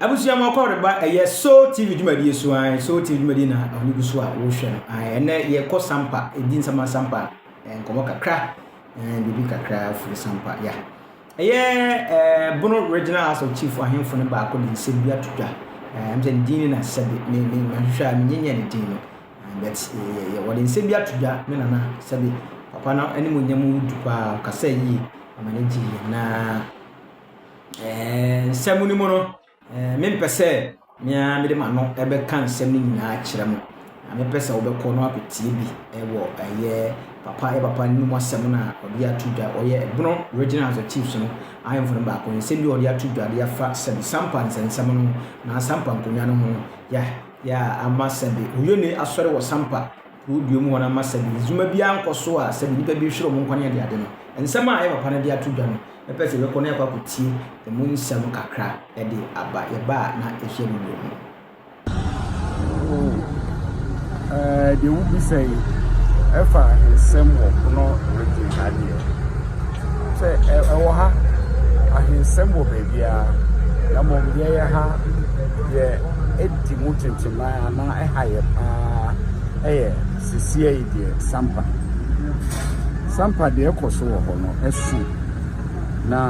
Abusua mu ɔkɔ reba ɛyɛ Soul TV dwumadie so ae Soul TV dwumadie na ɔne gu so a wohwɛ no ae ɛnɛ yɛkɔ sampa ɛdi nsɛma sampa eh, nkɔmmɔ kakra eh, biribi kakra firi sampa ya ɛyɛ eh, bono regional house of chief ahemfo no baako de nsɛm bi ato dwa ɛm sɛ ne din ne nasɛbe mahwehwɛ a menyenyɛ ne din no but wɔde nsɛm bi ato dwa ne nana sɛbe papa no anim nya mu du paa ɔkasa yie ama no gye yie naa Nsɛm no mu no, mempɛ sɛ me ara mede m'ano bɛka nsɛm no nyinaa akyerɛ mo, na mepɛ sɛ wobɛkɔ na akɔtie bi wɔ ɛyɛ papa yɛ papa no mu asɛm no a ɔde ato dwa, ɔyɛ ɛbono Regional House of Chiefs no ahemfo no baako, nsɛm bi ɔde ato dwa de afa sɛbi Sampa nsɛnsɛm no ho, na Sampa nkonnwa no ho, ya, ya, ama sɛbi Uyone asɔre wɔ Sampa. Kurow dua mu hɔ no ama sɛde nsiyoma biara nkɔ so a sɛde nnipa bi rehwere wɔn nkwa ne adeade no, nsɛm a ɛyɛ papa no de ato dwa no, mɛpɛ sɛ yɛbɛkɔ na yɛakɔ akɔtie emu nsɛm kakra de aba yɛn ba a na ɛhia no bio no. O, ɛɛ, deɛ wobisa yi ɛfa nsɛm wɔ pono redi ha deɛ. Sɛ ɛwɔ ha, ahensɛm wɔ baabiara, na mmom deɛ ɛyɛ ha, deɛ ɛdi mu kyenkyennan anaa ɛha yɛ paa yɛ sesia yi deɛ sampa. Sampa deɛ ɛkɔ so wɔ hɔ no, ɛso na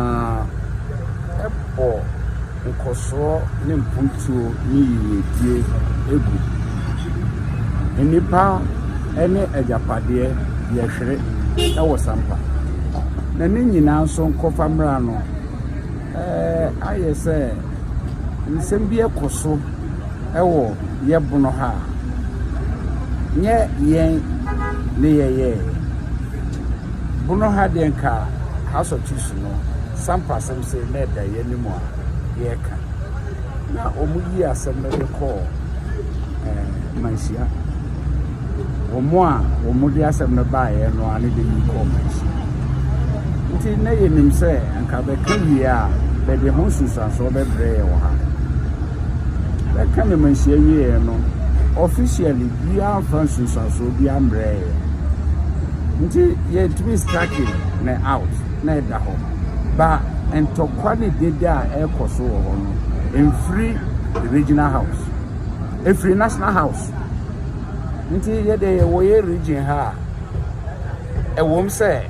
ɛbɔ. Nkɔsoɔ ne mpotuo ne yiredie gu. Nnipa ne agyapadeɛ yɛhwere wɔ sampa. Na ne nyinaa nso nkɔfa mmra no, ayɛ sɛ nsɛm bi kɔ so wɔ yɛ bono ha a, nyɛ yɛn ne yɛyɛɛ. Bono ha deɛ nka House of Chiefs no, sampa sɛ. Hu sɛ na ɛda yɛn anim a yɛreka. Na wɔyii asɛm no de kɔɔ eh, manhyia. Wɔn a wɔde asɛm no baeɛ no a ne de yi kɔɔ manhyia. Nti na yɛnim sɛ anka bɛka wie a bɛde ho nsunsuansoɔ bɛbrɛ yɛ wɔ ha. Bɛka ne manhyia wieɛ no, officially biara mfa nsunsuansoɔ biara mbrɛɛ yɛ. Nti yɛtumi starting ne out. na ɛda hɔ. Ba ntɔkwa ne dede a ɛrekɔ so wɔ hɔ no mfiri the regional house, ɛfiri national house. Nti yɛde yɛwɔ yɛ region ha a, ɛwom sɛ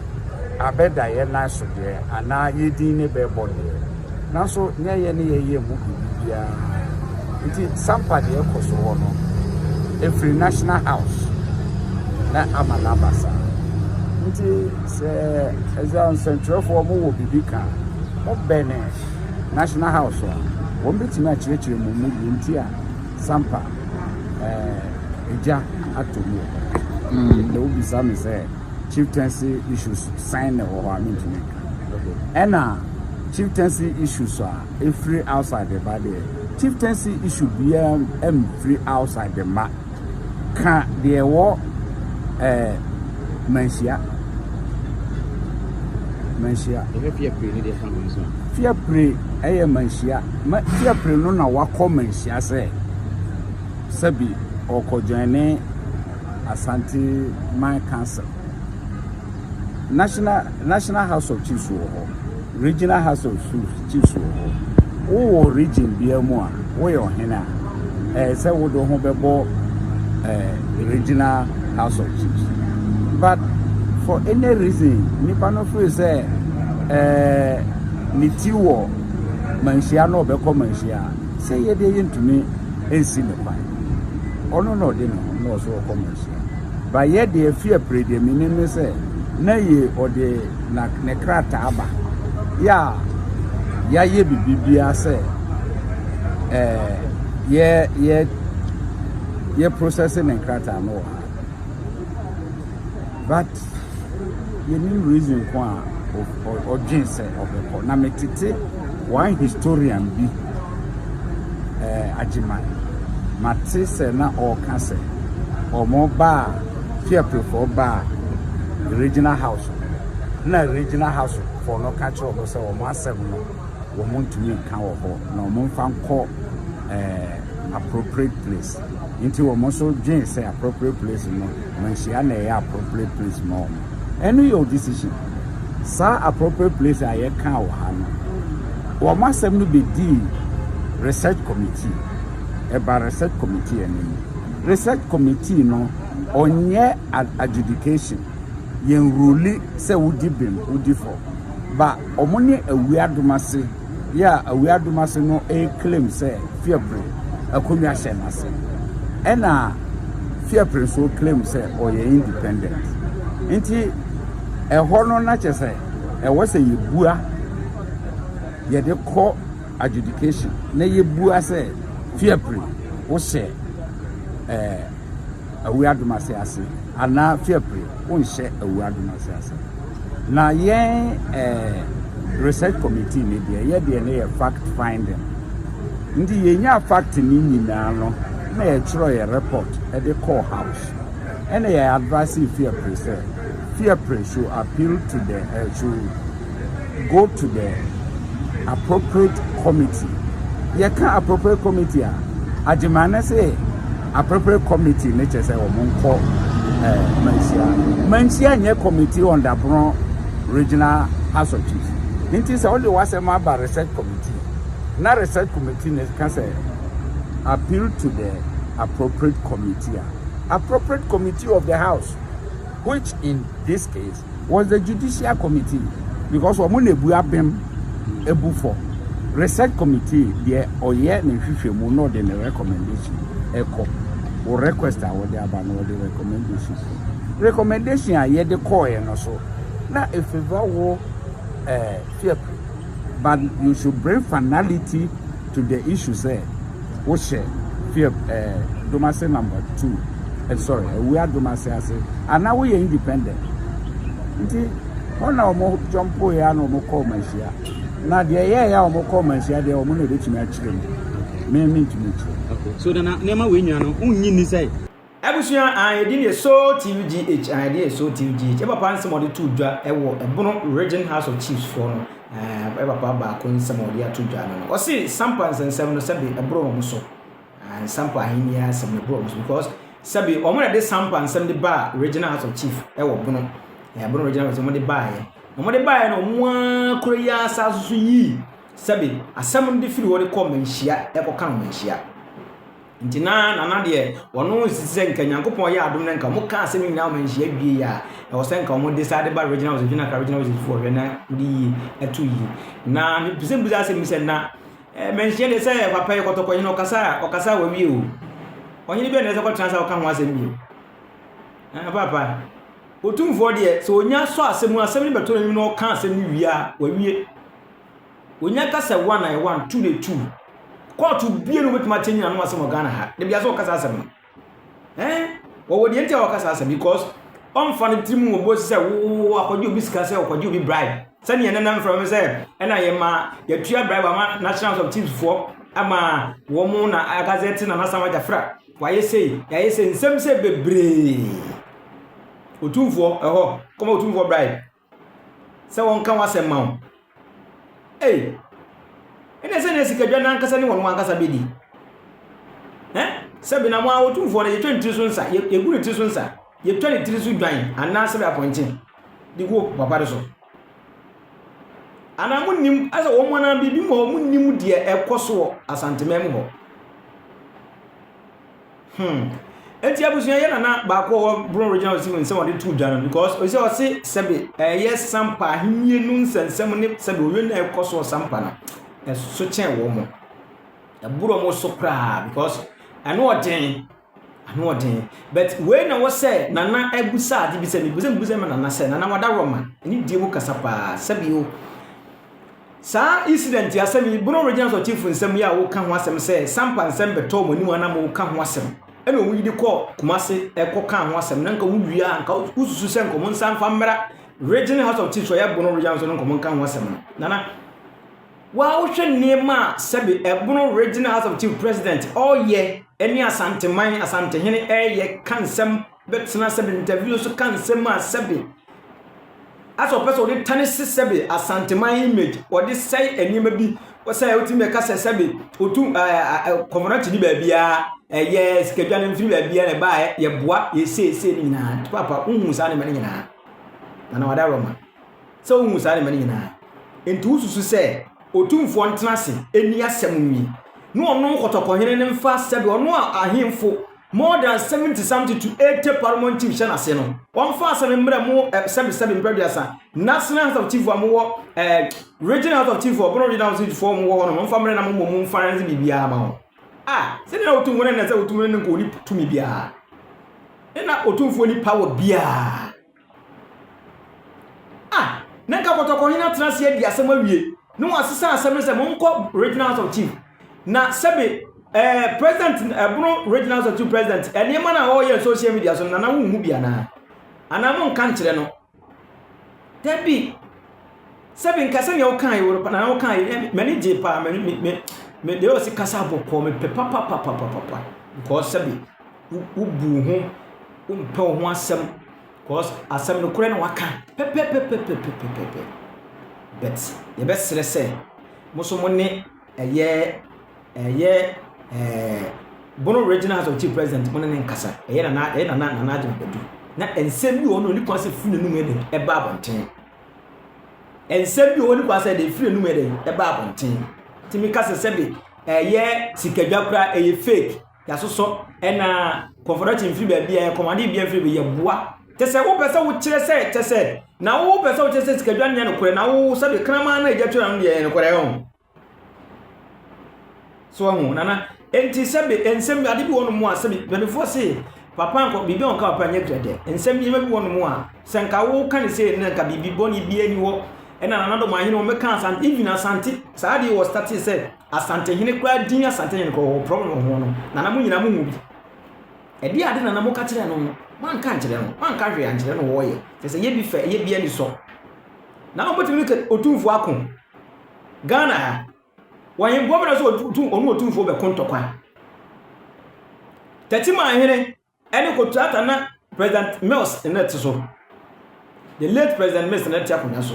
abɛda yɛ nan so deɛ anaa yɛ din ne bɛbɔ deɛ, Nanso nyɛ yɛn ne yɛn yam mu biribi biara nti Sampa deɛ ɛkɔ so hɔ no ɛfiri National House na ama no aba saa. Nti sɛ ɛsɛ nsɛntwerɛfoɔ mo wɔ biribi ka a, mo bɛne National House a wɔn bɛtumi akyerɛkyerɛ mu mu deɛ nti a Sampa ɛgya atɔ mu. Na wobisa me sɛ. chieftaincy issues sɛn na ɛwɔ hɔ a mentumi nka. Ɛna chieftaincy issues a ɛfiri outside ba deɛ, chieftaincy issue biara mfiri outside ma. Ka deɛ ɛwɔ eh, manhyia. Manhyia. Ɛhwɛ fia pire ne deɛ fa ho nso. Fia pire ɛyɛ manhyia. Ma, fia pire no na wakɔ manhyia sɛ, sɛbi ɔkɔ join ne Asante Man Council. National National House of Chiefs wɔ hɔ. Regional House of Chiefs wɔ hɔ. Wowɔ region biara mu a woyɛ ɔhene a ɛyɛ sɛ wode ho bɛbɔ ɛɛ regional House of Chiefs. But for any reason nipa no firi sɛ ɛɛ ne ti wɔ manhyia na ɔbɛkɔ manhyia. sɛ yɛdeɛ yɛntumi nsi no kwan ɔno na ɔde ne ho na ɔso ɔkɔ mo nso ba yɛdeɛ fi apire deɛ menim ne sɛ na yɛ ɔde na ne krataa ba yɛ a yɛayɛ biribiara sɛ ɛɛ yɛ yɛ yɛ process ne krataa no wɔ ha but Yenim reason ko a ɔdwen sɛ ɔbɛkɔ. Na metete one historian bi eh, Agyeman. Mate sɛ na ɔreka sɛ wɔn baa Fiapefoɔ baa regional house na regional house foɔ no ka kyerɛ wɔn sɛ wɔn asɛm no wɔn ntumi nka wɔ hɔ na wɔn mfa nkɔ eh, appropriate place. Nti wɔn nso dwen sɛ appropriate place no Manhyia a na ɛyɛ appropriate place ma wɔn. Ɛno yɛ wo decision. Saa appropriate place a yɛkaa wɔ ha no, wɔn asɛm no bɛdii research committee. Ɛbaa research committee anim. Research committee no, ɔnyɛ adjudication. Yɛn ruli sɛ wodi bem, wodi fɔ. Ba wɔn ne Awuradom ase. Yɛ a Awiadomase no reclaim sɛ Fiapre akonnwa hyɛ n'ase. Ɛna Fiapre nso claim sɛ ɔyɛ independent. Nti ɛhɔ no na kyɛ sɛ ɛwɔ sɛ yɛbua yɛde kɔ adjudication na yɛbua sɛ Fiapre wohyɛ ɛɛ Awiadomase ase. anaa fiapre wonhyɛ awura dom ase ase na yɛn eh, research committee ne deɛ yɛ deɛ ne yɛ fact finding nti yɛnya fact ne nyinaa no na yɛtwerɛ yɛ report de kɔɔ house ɛna yɛ advice fiapre sɛ fiapre should appeal to the uh, should go to the appropriate committee yɛka appropriate committee a agyima ne se appropriate committee ne kyɛ sɛ wɔn nkɔ ɛɛ eh, manhyia manhyia nyɛ committee on dapono regional house of chiefs nti sɛ wɔde wasɛm aba research committee na research committee ne ka sɛ appeal to the appropriate committee a appropriate committee of the house which in this case was the judicial committee because wɔn na ebu abɛm ebu fɔ research committee deɛ ɔyɛ ne nhwehwɛmu na ɔde ne recommendation ɛkɔ wɔ request a wɔde aba na ɔde recommendation recommendation a yɛde kɔɔɛ no so na efeva wɔ ɛɛ eh, but you should bring finality to the issue sɛ. Wohyɛ fief ɛɛ domase number two eh, sorry awua domase ase ana woyɛ independent nti hɔ na wɔn jɔmpo yɛ ana wɔn kɔ wɔn ahyia na deɛ yɛ yɛ a wɔn kɔ wɔn ahyia deɛ wɔn na ebetumi akyerɛ mu mɛmi ntumi kyerɛ. Okay so nana nneɛma wei nyinaa no wonyi ni sɛ. Abusua a yɛdin yɛ Soul TUGH a yɛdin yɛ Soul TUGH yɛ papa nsɛm a ɔde too dwa wɔ Ɛbono Region House of Chiefs foɔ no yɛ papa baako nsɛm a ɔde ato dwa no no ɔse Sampa nsɛnsɛm no sɛbe ɛboro wɔn so Sampa ahenni asɛm no ɛboro wɔn so because sɛbe wɔn na de Sampa nsɛm de baa Regional House of Chief ɛwɔ Bono Ɛbono Regional House wɔn de baayɛ wɔn de baayɛ no wɔn ara kura yi asa so so yii sɛbe asɛm no de firi hɔ de kɔ manhyia ɛkɔ ka no manhyia Nti na Nana deɛ, wɔn nsisi sɛ nka Nyankopɔn yɛ adom na nka wɔn ka asɛm nyinaa wɔn nhyia wie yɛ a, ɛwɔ sɛ nka wɔn de saa de ba regional office, regional kra regional office foɔ hwɛ na wɔde yie ato yie. Na mepɛsɛ mbusa asɛm bi sɛ na eh, manhyia deɛ sɛ papa yɛ kɔtɔkɔ hene ɔkasa a ɔkasa a wawie o. Ɔhene bi a na ɛsɛ kɔtena sɛ ɔka ho asɛm bio. Ah, papa, otumfoɔ deɛ sɛ onya sɔ asɛm mu asɛm no bɛto n'anim na ɔka asɛm no wie a wawie. Onya kasa one a one two de two. Court bie no betuma change na no asem wɔ Ghana ha. De bia so kasa asem no. Eh, wɔ wɔ de ntia wɔ kasa asem because on fa no timu wɔ bo sɛ wo akɔgye obi sika sɛ akɔgye obi bribe. Sɛ ne yɛn nam from sɛ ɛna yɛ ma yɛtua bribe ama National House of Chiefs foɔ ama wɔn na agazɛte na nasam agya fra. Wayɛ sei, yɛayɛ sei, nsɛm sɛ bebree. Otumfoɔ ɛhɔ, kɔma otumfoɔ bribe. sɛ wɔnka w'asɛm ma wo. Ei, ɛne sɛ na sikadwa no ankasa ne wɔn ankasa bɛdi. Ɛ? Sɛ benam a wɔtumfoɔ no yɛtwa ne tiri so nsa, yɛgu ne tiri so nsa, yɛtwa ne tiri so dwan anaa sɛbɛ apɔnkye de gu papa no so. Anaa monnim sɛ wɔn anaa biribi mu hɔ monnim deɛ ɛkɔ soɔ asanteman mu hɔ. Hmm. Enti abusua yɛ nana baako a ɔwɔ Bron Regional Hospital mu nsɛm a ɔde too dwa no because ɔsɛ ɔse sɛbe ɛyɛ Sampa ahenni no nsɛnsɛm ne sɛbe owie na ɛkɔ so wɔ Sampa no ɛso kyɛn wɔn mo. Ɛboro wɔn so koraa because ɛno ɔden ɛno ɔden but wei na wɔsɛ nana abusa ade bi sɛ mebusa mebusa ma nana sɛ nana wada rɔma ne die mu kasa paa sɛbe o Saa incident asɛm yi, Bono Regional Sɔr Chief nsɛm yi a woka ho asɛm sɛ Sampa nsɛm bɛtɔɔ mo anim a na moka ho asɛm na owu yi de kɔɔ Kumase kɔ kaa ho asɛm na nka wowie a nka wosusu sɛ nka ɔmo nsa mfa mmra Regional House of Chiefs ɔyɛ Bono Regional so no nka ɔmo nka ho asɛm no. Nana, woa wohwɛ nneɛma a sɛbe Bono Regional House of Chiefs President ɔɔyɛ ne Asanteman, Asantehene ɛɛyɛ ka nsɛm bɛtena sɛbe ntɛvio so ka nsɛm a sɛbe asɛ ɔpɛ sɛ ɔde tanese sɛbe asanteman image ɔde sɛe nneɛma bi sɛ wotumi bɛka sɛ sɛbe otu kɔmɔnɔkye ne baabiaa ɛyɛ sikadwa no mfiri baabiaa na ɛbaa yɛboa yɛseesei no nyinaa nti papa wohu saa nneɛma no nyinaa na na wada roma sɛ wohu saa nneɛma no nyinaa nti wosusu sɛ otumfoɔ ntena ase ɛni asɛm nwie na ɔno nkɔtɔkɔhene no mfa sɛbe ɔno a ahemfo More than seventy something to eighty parliament chiefs hyɛ n'ase no, wɔmfa asɛm mmerɛ mo eh, sɛbesɛbe mpɛ aduasa, national house of chief a mowɔ eh, regional house of chief wɔ bono regional house of chief fo mowɔ hɔ no, wɔmfa mmerɛ na mo mmɔ mu mfa nse biribiara ma wɔn. Ah, sɛdeɛ na wɔtum wɔn ɛnɛ sɛ wɔtum no ne nka wɔni tumi biara, ne na ɔtumfoɔ ni power biara. A, na nka pɔtɔkɔhene atena ase adi asɛm awie na wɔasesa asɛm no sɛ monkɔ Regional House of Chief. Na sɛbe ɛɛ president ɛbono Regional House of Chief president nneɛma no a ɔreyɛ social media so no nana wonhu bi anaa? Anaa monka nkyerɛ no? Dabi. Sɛbe nka sɛnea wokae wɔ nana wokae m'ani gye paa me me me me deɛ ɔsi kasa bɔkɔɔ mepɛ papapapapapa nkɔɔ sɛbe wo wobu wo ho, wompɛ wo ho asɛm cause asɛm no korɛ na waka pɛpɛpɛpɛpɛpɛpɛpɛ. But yɛbɛsrɛ sɛ mo nso mo ne ɛyɛ ɛyɛ ɛɛ Bono Regional House of Chief President mo ne ne nkasa ɛyɛ nana ɛyɛ nana nana adwuma bɛdu na nsɛm bi wɔ hɔ na ɔni kwan sɛ firi n'anum yɛ dɛ ɛba abɔnten nsɛm bi wɔ hɔ ɔni kwan sɛ de firi n'anum yɛ dɛ ɛba abɔnten tìmi kasa sɛbi ɛyɛ sikadwa koraa ɛyɛ fake. Yɛasosɔ ɛna kɔnfɔdɔkye mfiri baabi a ɛkɔm adeɛ bia mfiri baabi yɛ boa. Kyɛ sɛ wopɛ sɛ wokyerɛ sɛ kyɛ sɛ na wopɛ sɛ wokyerɛ sɛ sikadwa nyɛ nokorɛ na wo sɛdeɛ kraman na agya twera no deɛ yɛ nokorɛ ho. So ahu nana enti sɛbe nsɛm ade bi wɔ no mu a sɛbe mpanyinfoɔ se papa nkɔ biribi a ɔka papa nyɛ dɛdɛ nsɛm nneɛma bi wɔ no mu a sɛ nka woka ne sɛ na nka biribi bɔne bi ani hɔ ɛna nanadɔm ahene wɔn mɛka asante even asante saa adeɛ wɔ state sɛ Asantehene koraa din Asantehene kɔ wɔ prɔm no ho no nana mo nyinaa mo hu bi ɛdeɛ ade nana mo ka kyerɛ no no mo anka nkyerɛ no mo anka hwee ankyerɛ no wɔɔyɛ kyɛ sɛ yɛ bi fɛ yɛ bi ani sɔ nana ɔmo tumi kɛ otumfoɔ ako Ghana ha wɔhemboɔ mena sɛ ɔno otumfoɔ bɛko ntɔkwa tɛtiman hene Ɛne kotuata na President Mills nna te so. The late President Mills nna te akonwa so.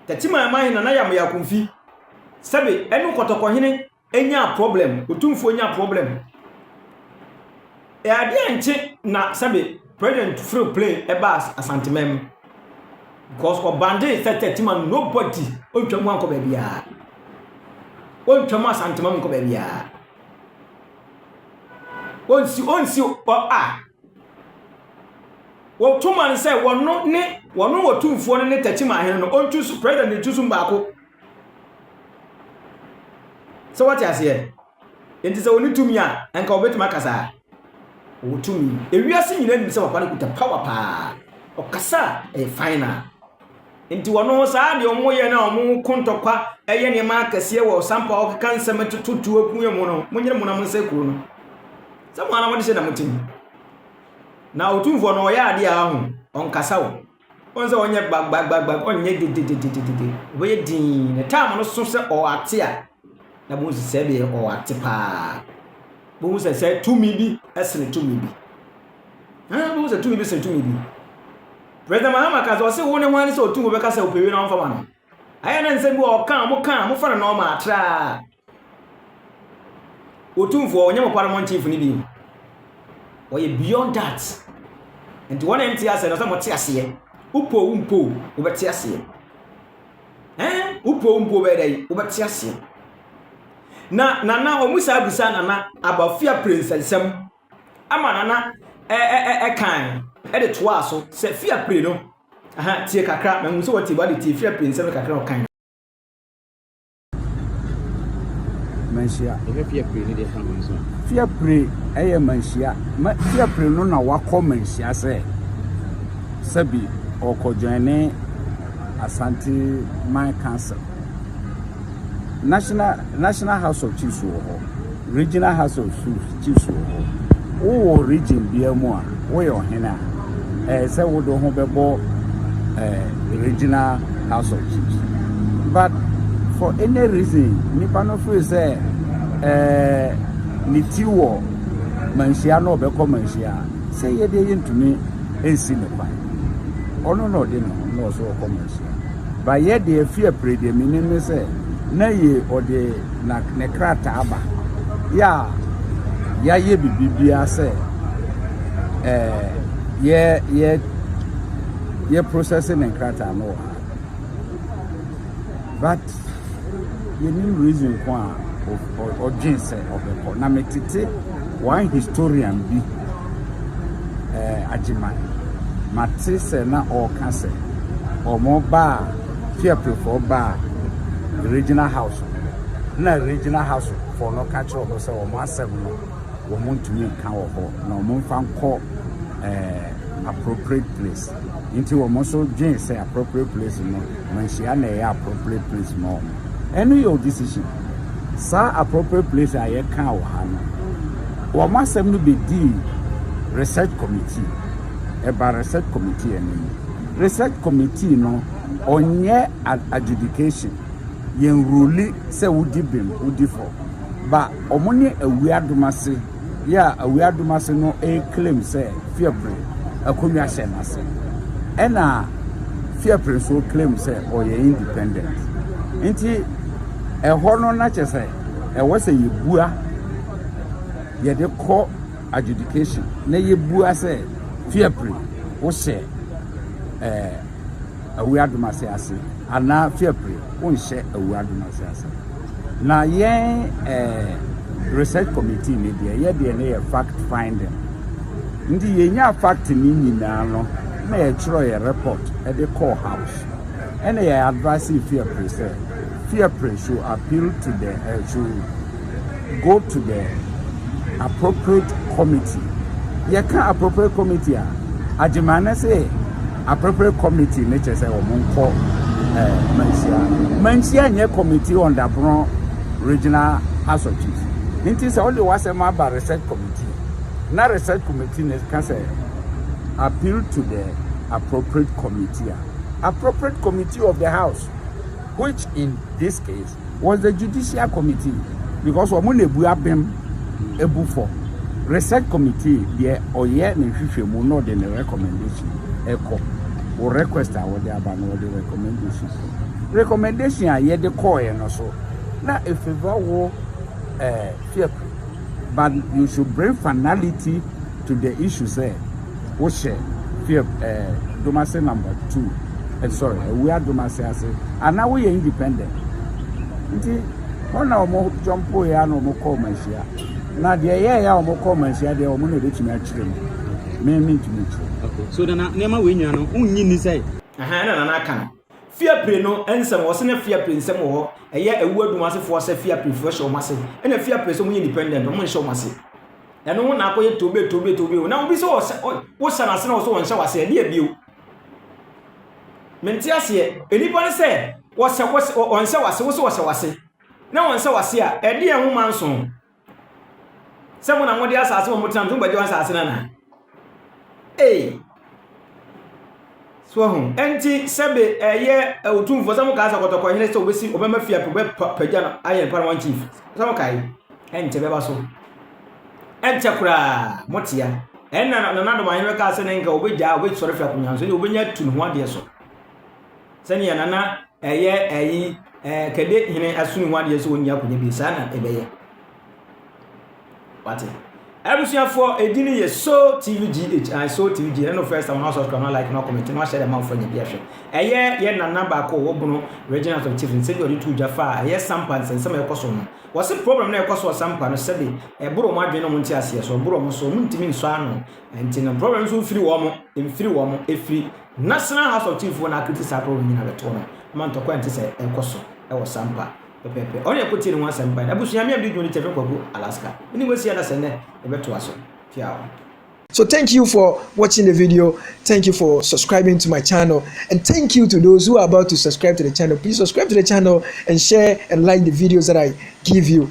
Tachiman Manhene Nana Yamaya Akumfi, sɛbe ɛne Kɔtɔkɔhene nyaa problem, Otumfoɔ nyaa problem. Ɛyɛ adeɛ a nkye na sɛbe President foro plane ɛbaa Asantemam because ɔbande sɛ Tachiman nobody ɔntwa mu ankɔ baabiara. Ɔntwa mu Asantemam nkɔ baabiara. Onsi onsi hɔ a, wɔto ma no sɛ wɔno ne wɔno wɔ tumfoɔ no ne takyima ahene no ɔntu so president ne tu so baako sɛ wɔte aseɛ nti sɛ wɔne tumi a nka wɔbɛtumi akasa a wɔwɔ tumi ewiase nyinaa nim sɛ papa no kuta power paa ɔkasa a ɛyɛ final Nti wɔno saa deɛ wɔn yɛ na wɔn ko ntɔkwa yɛ nneɛma akɛseɛ wɔ sampa ɔkeka nsɛm ɛtoto tuo akuɛ mu no mo nyere mo na mo nsa kuro no sɛ mo ana mo de hyɛ na mo tim na otumfoɔ no ɔyɛ adeɛ a ho ɔnkasa wo wɔn sɛ ɔnyɛ gbagbagbagba ɔnyɛ dededededede ɔbɛyɛ din ne tam no so sɛ ɔate a Na Mose sɛ deɛ ɔwɔ ate paa. Bohu sɛ sɛ tumi bi sene tumi bi. Ɛn bohu sɛ tumi bi sene tumi bi. President Mahama ka sɛ ɔse wo ne hwan ne sɛ ɔtu wo bɛka sɛ ɔpɛwie na ɔmfa ma no. Ayɛ na nsɛm bi wɔ ɔka a moka a mofa no nɔɔma atraa. Otumfoɔ ɔnyɛ mo parliament chief no bio. Ɔyɛ beyond that. Nti wɔn a ɛnte aseɛ no sɛ mote aseɛ. Wopoo wo mpoo wobɛte aseɛ. Ɛn, wopɛ wo mpo wobɛyɛ dɛ yi, wobɛte aseɛ. Na nana wɔn saa bisa nana abafia pere nsɛnsɛm ama nana ɛkan ɛde toa so sɛ fia pere no aha tie kakra mɛhu sɛ wɔte wɔde tie fia pere nsɛm kakra ɔkan. manhyia. Yɛhwɛ fear pray ne deɛ fa ho nso. Fear pray ɛyɛ manhyia. Ma fear pray no na wakɔ manhyia sɛ sɛbi ɔkɔ join ne Asante Man Council. National National House of Chiefs wɔ hɔ. Regional House of Chiefs. Gyefie so wɔ hɔ. Wowɔ region biara mu a, woyɛ ɔhene a, ɛyɛ sɛ wode ho bɛbɔ eh, regional house of chiefs. But for any reason, nipa no firi sɛ eh, ne ti wɔ manhyia na ɔbɛkɔ manhyia a, sɛ yɛ deɛ yɛntumi nsi ne kwan. Ɔno na ɔde ne ho na ɔso ɔkɔ manhyia. Ba yɛ deɛ fi apire deɛ menim ne sɛ na yɛ ɔde Na ne krataa aba yɛ a yɛayɛ biribiara sɛ ɛɛ yɛ yɛ yɛ process ne krataa no wɔ ha but yɛnim reason ko a ɔdwen sɛ ɔbɛkɔ na metete one historian bi ɛɛ agyema mate sɛ na ɔreka sɛ wɔn baa fiapefoɔ baa regional house. na Regional House foɔ no ka kyerɛ wɔn sɛ wɔn asɛm no wɔn ntumi nka wɔ hɔ na wɔn mfa nkɔ eh, appropriate place nti wɔn nso dwen sɛ appropriate place no manhyia na ɛyɛ appropriate place ma wɔn ɛno yɛ o decision saa appropriate place a yɛka wɔ ha no wɔn asɛm no bɛdii research committee ɛba research committee anim research committee no ɔnyɛ adjudication yɛn role sɛ wodi bem wodi fɔ ba ɔmo ne awia adomase yɛ a awia adomase no ɛɛclaim sɛ fiɛpre akonnwa hyɛ n'ase ɛna fiɛpre nso claim sɛ ɔyɛ independent nti ɛhɔ no na kyɛ sɛ ɛwɔ sɛ yɛbua yɛde kɔ adjudication na yɛbua sɛ fiɛpre wohyɛ ɛɛ Awu adomase ase anaa fiapre wonhyɛ awu adomase ase na yɛn eh, research committee ne deɛ yɛ deɛ ne yɛ fact finding nti yɛnya fact ne nyinaa no na yɛtwerɛ yɛ report de kɔɔ house ɛna yɛ advice fiapre sɛ fiapre should appeal to the uh, should Go to the appropriate committee. Yɛka appropriate committee a, Agyemane se appropriate committee ne kyerɛ sɛ wɔn nkɔ eh, manhyia. Manhyia nyɛ committee on Dapono Regional House of Chiefs. Nti sɛ wode w'asɛm aba research committee na research committee ne ka sɛ appeal to the appropriate committee a appropriate committee of the house which in this case was the judicial committee because wɔn na ebu abɛm ebu fɔ research committee deɛ ɔyɛ ne nhwehwɛmu na ɔde ne recommendation ɛkɔ wɔ request a wɔde aba na wɔde recommendation recommendation a yɛde kɔɔɛ no so na efeva wɔ ɛɛ eh, fiɛfo but you should bring finality to the issue sɛ. wohyɛ fief ɛɛ domase number two ɛ eh, sorry awua domase ase ana woyɛ independent nti hɔ na wɔn jɔmpo yɛ ana wɔn kɔɔ manhyia na deɛ ɛyɛ ɛyɛ a wɔn kɔɔ manhyia deɛ wɔn na ebetumi akyerɛ mu mɛmi ntumi kyerɛ. so nana nneɛma wei nyina no wonyi ni sɛ. ɛhɛn na nana aka no. Fiapre no nsɛm, wɔse na fiapre nsɛm wɔ hɔ, ɛyɛ awu adum ase foɔ sɛ fiapre foɔ hyɛ wɔn ase, ɛna fiapre sɛ wɔn yɛ independent, wɔn nhyɛ wɔn ase. Ɛno ho na akɔ yɛ tobe tobe tobe o, na obi sɛ ɔsɛ, wo sɛ n'ase na ɔsɛ ɔnhyɛ w'ase, ɛde abio. Mente aseɛ, enipa no sɛ ɔsɛ, ɔsɛ, ɔnhyɛ w'ase, wo sɛ ɔsɛ w'ase, na ɔnhyɛ w'ase a, ɛde ɛho ma nson. Sɛ mo na mo de asase wɔ mo tena mo tumi bɛgye asase no anaa? Ee. So ahu. Ɛnti sɛbe ɛyɛ otumfoɔ sɛ mo kaa sɛ kɔtɔkɔ hene sɛ obɛsi obɛma fie apɛ bɛpagya no ayɛ no paramount chief sɛ mo kae ɛnkyɛ bɛba so ɛnkyɛ koraa mo tea ɛnna nana dɔm ahene bɛkaa sɛ ne nka obɛgyaa obɛsɔre firi akonnwa so ne obɛnya tu ne ho adeɛ so Sɛnea na na ɛyɛ ayi ɛɛ kɛde hene asoni ho adeɛ sɛ wɔnni akonnwa bi saa na ɛbɛyɛ wate abusuafoɔ ɛdi no yɛ so tv gh I so tv gh ɛno first time na subscribe na like na comment na wahyɛ dɛ ma wofa nya bi ahwɛ ɛyɛ yɛ nana baako wɔ bono regional of chief sɛbi ɔde tu gya fa a ɛyɛ sampa nsɛnsɛm a ɛkɔ so no wɔse problem na ɛkɔ so sampa no sɛbi ɛboro mo adwene no mo nte aseɛ so ɛboro mo so mo ntumi nsɔ ano nti no problem nso mfiri wɔ mo mfiri wɔ mo ɛfiri National House of Chiefs foɔ no akriti saa problem yi na bɛtoo no ma ntɔkwa a ɛnte sɛ ɛrekɔ so wɔ Sampa pɛpɛɛpɛ. Ɔne yɛkɔtiee ne ho asɛm baeɛ no, Abusua me a medi dwuma no Kyɛfin Kwaku Alaska ne Wessi Adasa nnɛ yɛbɛtoa so. Tiawa. So thank you for watching the video, thank you for subscribing to my channel and thank you to those who are about to subscribe to the channel, please subscribe to the channel and share and like the videos that I give you.